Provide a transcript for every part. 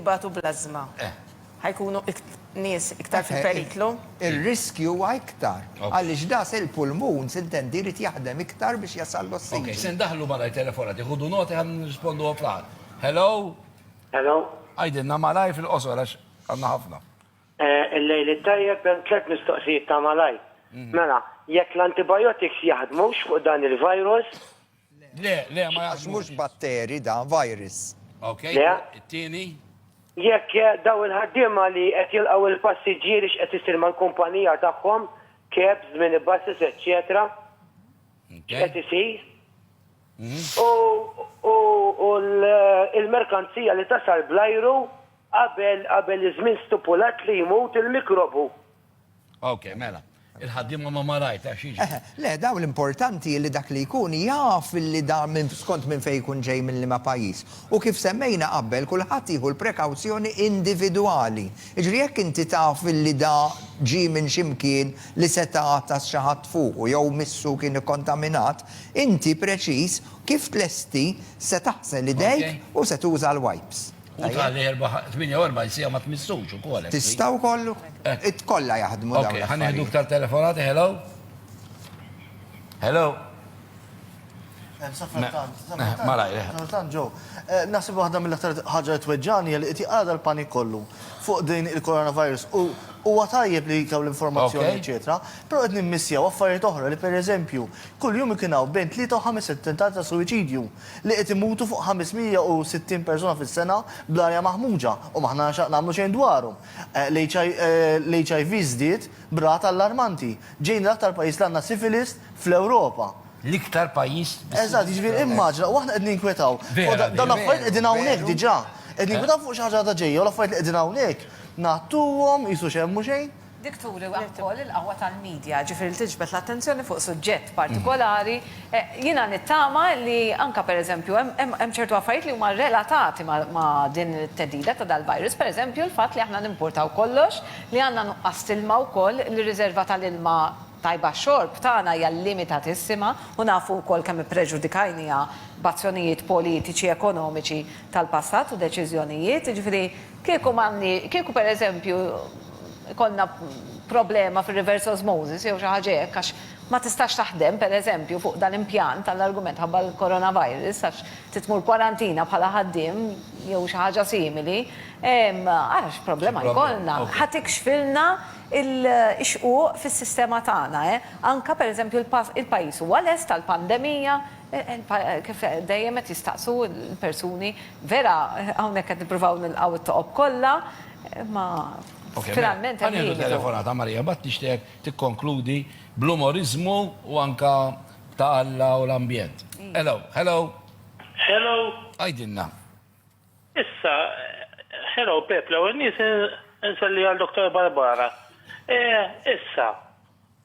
ibatu bl-ażma. Ħa jkunu nies iktar fil-periklu. Ir-riskju huwa iktar. Għaliex das il-pulmun, sintendi, jrid jaħdem iktar biex jasal l-ossiġnu. Ok, se ndaħħlu malajr telefonati. Ħudu noti ħalli nirrispondu għal kulħadd. Hello? Hello? Għidilna malajr fil-qosor għax għandna ħafna. Il-lejl it-tajjeb, hemm tliet mistoqsijiet ta' malajr. Mela, jekk l-antibiotics jaħdmux fuq dan il-virus, Le, le, ma Għax mhux batteri da, virus. Ok, it-tieni? Jekk daw il-ħaddiema li qed jilqgħu il-passiġġieri x'qed isir mal-kumpanija tagħhom, cabs, minibuses, eċċetera. X'qed isir? U l-merkanzija li tasal bl-ajru qabel iż-żmien stipulat li jmut il-mikrobu. Ok, mela. Il-ħaddim ma ma rajt, għax iġi. Eh, le, daw l-importanti li dak li jkun jaf li da minn skont minn fejn jkun ġej minn liema pajjiż. U kif semmejna qabel, kulħadd jieħu l-prekawzjoni individwali. Jiġri jekk inti taf li da ġie minn xi mkien li seta' għatas xi ħadd fuqu jew missu kien ikkontaminat, inti preċiż kif tlesti se taħsel idejk u se tuża l-wipes. U tal-48 sija ma tmissux u kol. Tista u kollu? It kolla jahdmu daw. Ok, ħan iħdu ktar telefonati, hello? Hello? Malaj, Sultan ġo. Nasib waħda mill-aktar ħagġa t-tweġġani li iti għada l-panik kollu fuq din il-coronavirus u u għatajjeb li kaw l-informazzjoni, eccetera. Pero għed nimmissja u affarijiet oħra li per eżempju, kull jum ikinaw bejn 3 u 5 tentat ta' suicidju. li qed imutu fuq 560 persuna fis-sena bl-arja maħmuġa u m'aħna x'għad nagħmlu xejn dwarhom. L-HIV żdied b'rata allarmanti. Ġejna l-aktar pajjiż li għandna syphilis fl-Ewropa. L-iktar pajjiż bis-syphilis. Eżatt, jiġifieri immaġina, u aħna qed ninkwetaw. Fuq dawn l-affarijiet qegħdin hawnhekk diġà. Qed ninkwetaw fuq xi ħaġa għadha ġejja u l-affarijiet li qegħdin hawnhekk ngħattuhom qisu xejn mhu xejn. Dik turi wkoll il-qawwa tal-media, ġifieri li tiġbed l-attenzjoni fuq suġġett partikolari. Jiena nittama li anke pereżempju hemm hemm ċertu affarijiet li huma relatati ma' din it-theddida ta' dal-virus, pereżempju l-fatt li aħna nimpurtaw kollox, li għandna nuqqas t'ilma wkoll, li r-riżerva tal-ilma tajba għax-xorb tagħna hija limitatissima u nafu wkoll kemm ippreġudikajniha b'azzjonijiet politiċi, ekonomiċi tal-passat u deċiżjonijiet. Jiġifieri, Kieku m'għandni, kieku per eżempju jkollna problema fir-reverse osmosis jew xi ħaġa hekk għax ma tistax taħdem per eżempju fuq dan impjant għall-argument ħabba l-coronavirus għax trid tmur kwarantina bħala ħaddiem jew xi ħaġa simili, ehm, ara x'problema jkollna. Ħa tikxfilna l-xquq fis-sistema tagħna, eh? Anke per eżempju il-pajjiż huwa lest għall-pandemija, Kif dejjem qed jistaqsu l-persuni, vera hawnhekk qed nippruvaw nilqgħu t-toqob kollha, imma finalment hemm limitu. Ħa nieħdu telefonata, Marija, mbagħad nixtieqek tikkonkludi bl-umoriżmu u anke ta' Alla u l-ambjent. Hello, hello. Hello. Għidilna. Issa, hello Pepp, l-ewwel nett insellija lil Dottor Barbara. Issa,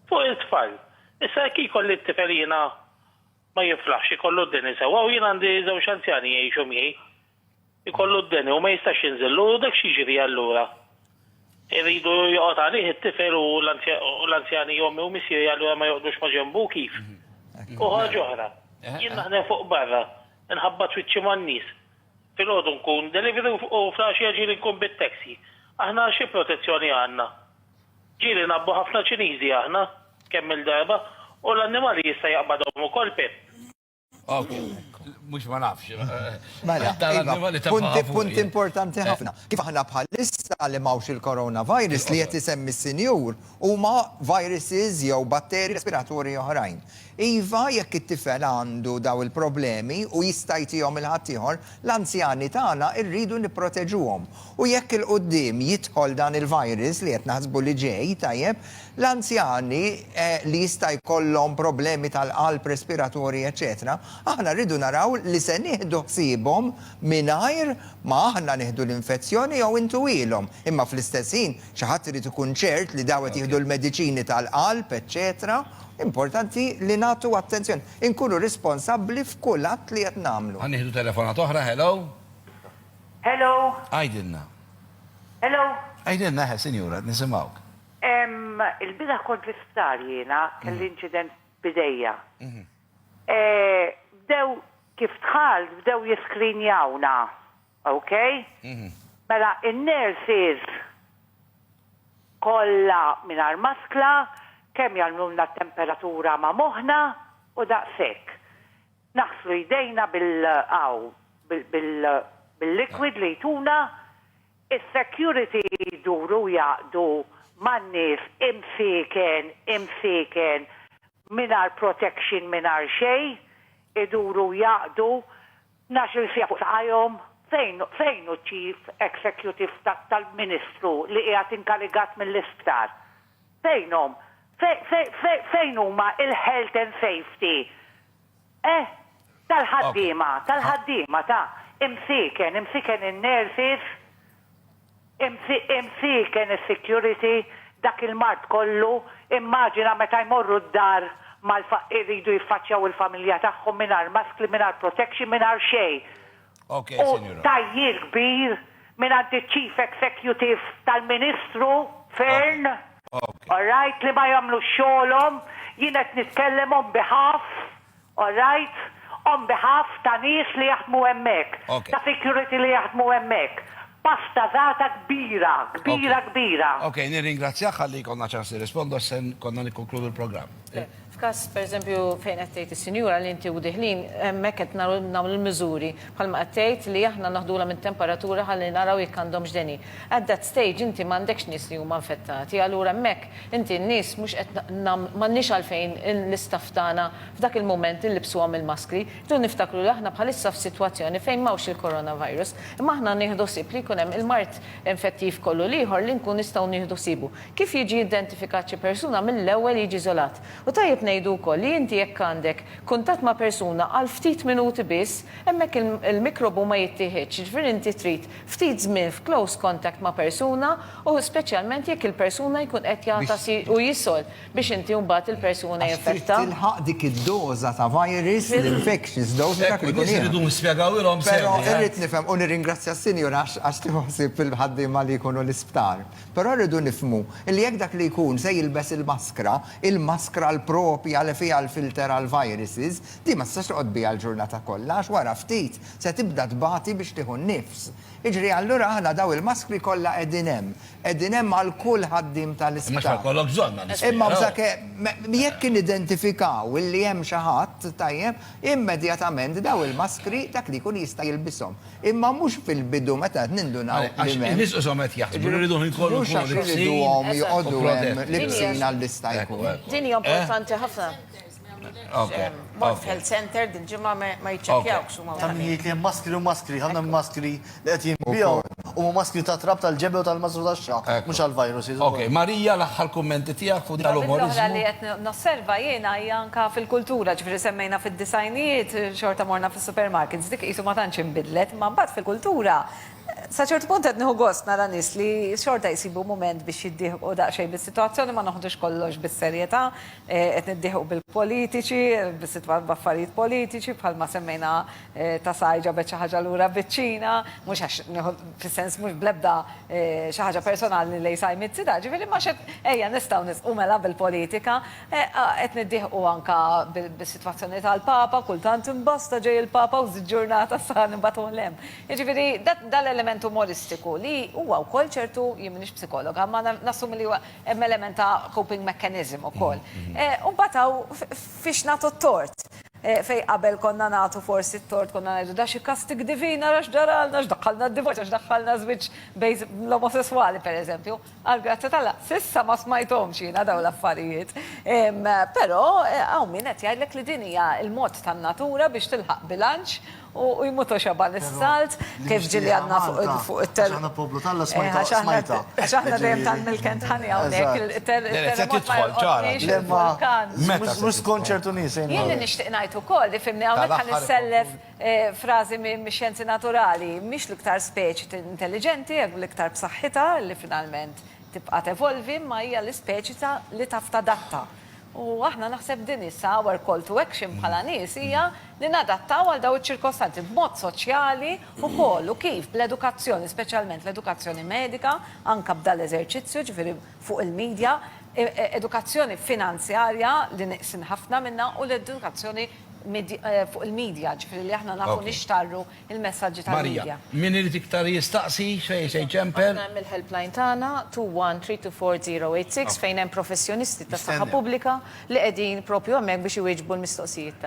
fuq it-tfal, issa jekk ikolli t-tifel jiena ma jiflaħx ikollu d-deni sewwa u jien għandi żewġ anzjani jgħixu miegħi. Ikollu d-deni u ma jistax jinżillu u dak x'jiġri allura? Irridu joqgħod għalih it-tifel u l-anzjani ommi u missieri allura ma joqgħdux ma' ġenbu kif? U ħaġa oħra, jien naħdem fuq barra, inħabbat wiċċi man-nies. Filgħodu nkun delivery u fl-għaxija ġieli nkun bit-taxi. Aħna xi protezzjoni għandna? Ġieli ngħabbu ħafna Ċiniżi aħna, kemm-il darba, u l-annimali jista' jaqbadhom ukoll, Pip? Ok. Mhux ma nafx. Mela, iva, punt importanti ħafna. Kif aħna bħalissa li m'hawnx il-coronavirus li qed isemmi s-Sinjur huma viruses jew batteri respiratorji oħrajn. Iva, jekk it-tifel għandu dawn il-problemi u jista' jtihom 'il ħaddieħor, l-anzjani tagħna rridu nipproteġuhom. U jekk 'il quddiem jidħol dan il-virus li qed naħsbu li ġej, tajjeb, l-anzjani li jista' jkollhom problemi tal-qalb, respiratorji, eċċetera, aħna rridu naraw li se nieħdu ħsiebhom mingħajr ma aħna nieħdu l-infezzjoni jew intuhilhom. Imma fl-istess ħin, xi ħadd irid ikun ċert li dawn qed jieħdu l-mediċini tal-qalb, eċċetera. Importanti li nagħtu attenzjoni, inkunu responsabbli f'kull att li qed nagħmlu. Ħa nieħdu telefonata oħra, hello? Hello? Għidilna. Hello? Għidilna, eħe, sinjura, qed nisimgħuk. Il-bieraħ kont l-isptar jiena, kelli inċident b'idejja. Bdew, kif dħalt, bdew jiskrinjawna. Ok? Mela in-nurses kollha mingħajr maskla, kemm jagħmlulna t-temperatura ma' moħħna u daqshekk. Naħslu jdejna bil hawn bil-liquid li jtuna, is-security jduru jaqdu man-nies imsieken, imsieken, mingħajr protection mingħajr xejn, iduru jaqdu Ngħax-il siegħa fuq saqajhom, fejn, fejn hu ċ-chief executive ta', tal-Ministru li qiegħed inkarigat mill-isptar? Fejnhom? Fe, fe, fe, fejn huma il-health and safety, eh, tal-ħaddiema, tal-ħaddiema ta', imsieken, imsieken in-nurses? Imsieken is-security, dak il-mard kollu, immaġina meta jmorru d-dar mal-faqqi jridu jiffaċċjaw il-familja tagħhom mingħajr maskli, mingħajr protection, mingħajr xejn. U tgħajjir kbir mingħand iċ-Chief Executive tal-Ministru Fearne, alright, li ma jagħmlux xogħolhom, jien qed nitkellem on behalf All right, on behalf ta' nies li jaħdmu hemmhekk, ta' security li jaħdmu hemmhekk, pastazata kbira, kbira, kbira. Okej, nirringrazzjak ħalli jkollna ċans nirrispondu għax se konna nikkonkludu l-programm. Le, f'każ, pereżempju, fejn qed tgħid is-sinjura li inti u Dihlin, hemmhekk qed nagħmlu l-miżuri, bħalma qed tgħid, li aħna naħdulha mit-temperatura ħalli naraw jekk għandhomx deni. At that stage inti m'għandekx nies li huma infettati, allura hemmhekk inti n-nies mhux qed m'għandniex għalfejn l-istaff tagħna f'dak il-mument inlibbsuhom il-maskri. Irridu niftakru li aħna bħalissa f'sitwazzjoni fejn m'hawnx il-coronavirus, imma aħna nieħdu ħsieb li jkun hemm il-mard infettiv kollu l-ieħor li nkun nistgħu nieħdu ħsiebu. Kif jiġi identifikat xi persuna mill-ewwel jiġi żolat. U tajjeb ngħidu wkoll li inti jekk għandek kuntatt ma' persuna għal ftit minuti biss, hemmhekk il-mikrobu ma jittieħedx, jiġifieri inti trid ftit żmien f'close contact ma' persuna u speċjalment jekk il-persuna jkun qed jagħtas u jisol biex inti mbagħad il-persuna Għax trid jinfetta. tilħaq dik id-doża ta' virus, l-infectious dose, dak li Ekku, jkun nies iridu jieħdu. nispjegawilhom sew Però diha. irrid nifhem u nirringrazzja s-Sinjura għax għax tieħu ħsieb fil-ħaddiema li jkunu l-isptar. Però rridu nifhmu li jekk dak li jkun se jilbes il-maskra, il-maskra l-proprja li fiha l-filter għall-viruses, din ma tistax toqgħod biha l-ġurnata kollha għax wara ftit Se tibda tbati biex tieħu n-nifs. Jiġri allura aħna daw il-maskri kollha qegħdin hemm. Qegħdin hemm għal kull ħaddiem ta' l-isptar. Imma x'ma jkollok bżonn għal isptar. Imma bżake, jekk nidentifikaw illi hemm xi ħadd, tajjeb, immedjatament daw il-maskri dak li jkun jista' jilbishom. Imma mhux fil-bidu meta qed nindunaw li m'hemmx. Għax in-nies ishom qed jaħsbu li rridu l-ħin kollu nkunu libsin u protetti. Mhux għax irriduhom joqogħdu hemm libsin għal-lista jkun. Din hija importanti ħafna. Mort health center dil-ġimgħa ma jiċċekkjawk x'huma. Ta' min jgħid li hemm maskri u maskri, ħafna mill-maskri li qed jinbiegħu huma maskri ta' trab tal-ġebel u tal-mażru tax-xagħar, mhux għall-virus. Okej, Maria, l-aħħar kummenti tiegħek fuq dan l-umoriżmu? Ħaġa oħra li qed nosserva jiena hija anke fil-kultura, ġifieri semmejna fid-disgħinijiet xorta morna fis-supermarkets, dik qisu ma tantx inbidlet, imma mbagħad fil-kultura sa ċertu punt qed nieħu gost nara nies li xorta jsibu mument biex jiddieħqu daqsxejn bis-sitwazzjoni, ma noħdux kollox bis-serjetà. Qed niddieħqu bil-politiċi, bis-sitwa-, b'affarijiet politiċi, bħalma semmejna ta' Saaj ġabet xi ħaġa lura biċ-Ċina, mhux għax nieħu fis-sens mhux bl-ebda xi ħaġa personali lejn Saaj Mizzi da, ġifieri imma x'qed ejja nistgħu nisqu mela bil-politika, qed niddieħqu anke bis-sitwazzjoni tal-Papa, kultant imbasta ġej il-Papa u żitt ġurnata sa nibagħtuh 'l hemm. Jiġifieri da l-element umoristiku li huwa wkoll ċertu, jien m'iniex psikologa, imma nassumi li huwa Hemm element ta' coping mechanism ukoll. U mbagħad hawn fiex nagħtu t-tort. Fejn qabel konna nagħtu forsi t-tort konna ngħidu da xi kastig divin ara x'ġaralna, x'daħħalna d-divorzju, x'daħħalna żwieġ bejn l-omosesswali pereżempju. Għall-grazzja t'Alla, s'issa ma smajthomx jiena dawn l-affarijiet. Però hawn min qed jgħidlek li din hija l-mod tan-natura biex tilħaq bilanċ U jmut u xeba' l-isalt, kif ġieli għadna fuq it-. Għax aħna poplu t'Alla smajta. Għax aħna dejjem ta' milk and honey hawnhekk. Il-terremot ma jolqotniex, il-vulkan. Mhux skont ċertu nies. Jien li nixtieq ngħid ukoll, li fhimni hawnhekk ħa nissellef frażi mix-xjenzi naturali, mhix l-iktar speċi intelliġenti, hekk l-iktar b'saħħitha li finalment tibqa' tevolvi, imma hija l-ispeċi li taf tadatta. U aħna naħseb din hi sa our call to action bħala nies hija li nadattaw għal dawn iċ-ċirkostanzi b'mod soċjali wkoll u kif bl-edukazzjoni speċjalment l-edukazzjoni medika anke b'dan l-eżerċizzju ġifieri fuq il-media edukazzjoni finanzjarja li neqsin ħafna minnha u l-edukazzjoni fuq il-media ġifieri li aħna nafu nixtarru il-messaġġi tal-midja. Marija, min irid iktar jistaqsi x'fejn se jċempel. Aħna hemm il-helpline tagħna 2132408 6 fejn hemm professjonisti tas-saħħa pubblika li qegħdin propju hemmhekk biex iwieġbu l-mistoqsijiet tagħkom.